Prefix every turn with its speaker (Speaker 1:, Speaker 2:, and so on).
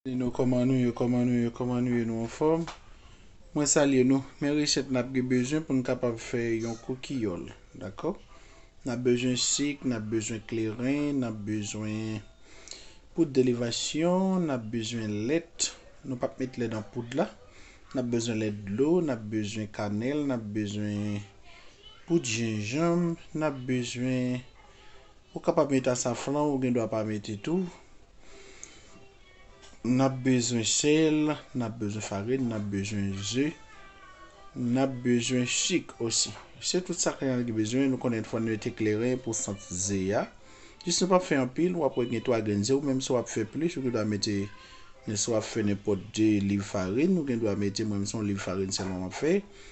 Speaker 1: Nino kòman nou ye kòman nou ye kòman nou ye nou anfòm mwen salye nou men recette nap gen bezwen poun kapab fè yon kokiyòl dakò nap bezwen sik nap bezwen kleren nap bezwen poud elevasyon nap bezwen lèt nou pap met lèt nan poud la nap bezwen lèt dlo nap bezwen kanèl nap bezwen poud jenjanm nap bezwen Ou kapab met asafran ou gen dwa pa mete tou. Nap bezwen sèl, nap bezwen farin, nap bezwen ze, nap bezwen sik osi. Se tout sa kanaran gen bezwen, nou konnen fòn mete kleren pou sant ze a. Jis nou pap fè anpil, wap wè gen 3 grenn ze ou menm si wap fè plis ou gen dwa mete men si wap fè nenpòt 2 liv farin ou gen dwa mete mwen menm se yon liv farin sèlman map fè.